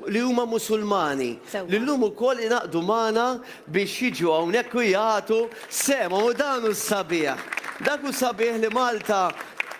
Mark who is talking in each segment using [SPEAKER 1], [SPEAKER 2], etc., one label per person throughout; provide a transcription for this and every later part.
[SPEAKER 1] li huma Musulmani, li llum ukoll ingħaqdu magħna biex jiġu hawnhekk u jagħtu sehemhom u dan hu s-sabiħ. Dak hu sabiħ li Malta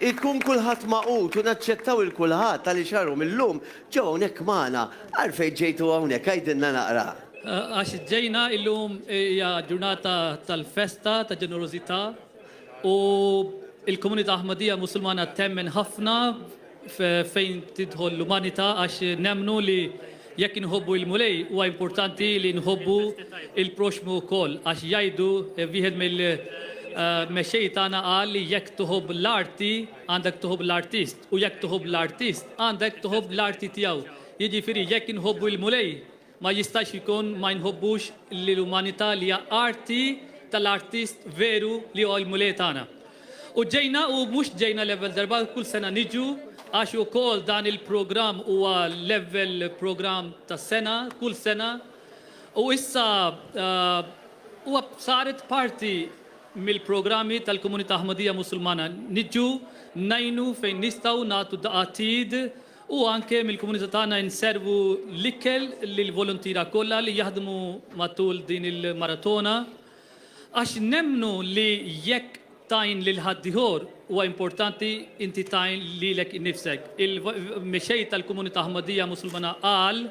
[SPEAKER 1] jkun kulħadd magħqud u naċċettaw 'il kulħadd għaliex arahom illum ġew hawnhekk magħna. Għalfejn ġejtu hawnhekk għidilna naqra? Għax
[SPEAKER 2] ġejna illum hija ġurnata tal-festa ta' ġenerożità u l-komunità Aħmadija Musulmana temmen ħafna fejn tidħol l-umanità għax nemmnu li jekk inħobbu il-Mulej huwa importanti li nħobbu il-proxmu wkoll għax jgħidu wieħed mill mexxej tagħna qal li jekk toħobb l-arti għandek toħobb l-artist u jekk toħobb l-artist għandek toħobb l-arti tiegħu. Jiġifieri jekk inħobbu l-Mulej Ma jistax ikun ma nħobbux lill-umanità li hija arti tal-artist veru li hu l-Mulej tagħna. U ġejna u mhux ġejna l-ewwel darba, kull sena niġu għax ukoll dan il-programm huwa l-ewwel programm tas-sena, kull sena. U issa huwa saret parti mill-programmi tal-Komunità Aħmadija Musulmana. Niġu ngħinu fejn nistgħu nagħtu daqqa t'id, U anke mill-komunità tagħna inservu l-ikel lill-voluntiera kollha li jaħdmu matul din il-maratona għax nemmnu li jekk tgħin lil ħaddieħor huwa importanti inti tgħin lilek innifsek. Il-mexxej tal-komunità Aħmadija Musulmana qal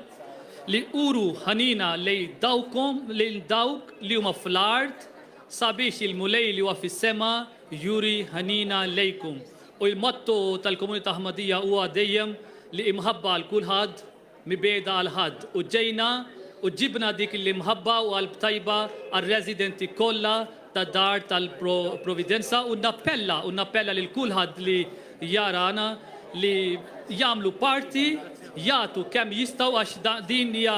[SPEAKER 2] li uru ħanina lejn dawkom lejn dawk li huma fl-art sabiex il-Mulej li huwa fis-sema juri ħanina lejkum. U l-motto tal-Komunità Ħmadija huwa dejjem li imħabba għal kulħadd, mibegħda għal ħadd. U ġejna u ġibna dik l-imħabba u qalb tajba għar-residenti kollha tad-Dar tal-Providenza u nappella u nappella lil kulħadd li jarana li jagħmlu parti, jagħtu kemm jistgħu għax din hija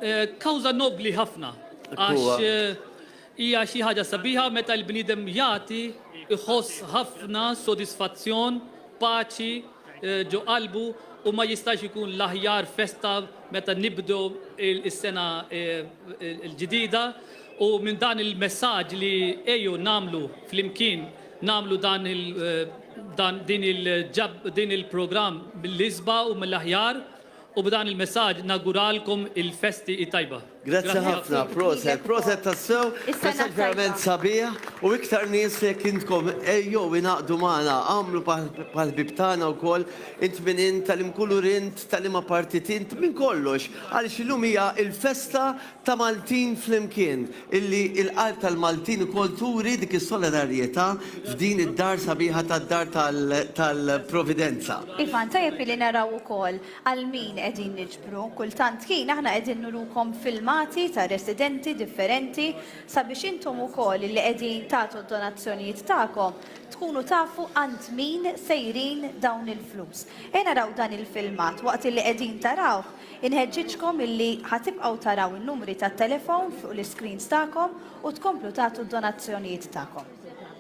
[SPEAKER 2] Eh, kawża nobbli ħafna għax eh, hija xi ħaġa sabiħa meta l-bniedem jagħti iħoss ħafna sodisfazzjon, paċi eh, ġo qalbu u ma jistax ikun l-aħjar festa meta nibdu is-sena l-ġdida u minn dan il-messaġġ li eju namlu flimkien namlu dan il dan din il-ġab din il-programm mill-isba u mill-aħjar U b'dan il-messaġġ nawguralkom il-festi it-tajba. Grazzi ħafna,
[SPEAKER 1] proset, proset tassew, messaġġ verament sabiħ u iktar nies jekk intkom ejjew ingħaqdu magħna, agħmlu bħall-ħbieb tagħna wkoll, int minn int, tal-imkulur int, tal-liema partit int, minn kollox, għaliex illum hija l-festa ta' Maltin flimkien, illi l-qalb tal-Maltin ukoll turi dik is-solidarjetà f'din id-dar sabiħa tad-Dar tal-Providenza. Ivan, tajjeb
[SPEAKER 3] illi naraw ukoll għal min qegħdin niġbru. Kultant kien aħna qegħdin nurukom filmati ta' residenti differenti sabiex intom ukoll illi qegħdin tagħtu d-donazzjonijiet tagħkom tkunu tafu għand min sejrin dawn il-flus. Ejja naraw dan il-filmat waqt illi qegħdin tarawh Inħeġġiġkom illi ħa tibqgħu taraw in-numri tat-telefown fuq l-iscreens tagħkom u tkomplu tagħtu d-donazzjonijiet tagħkom.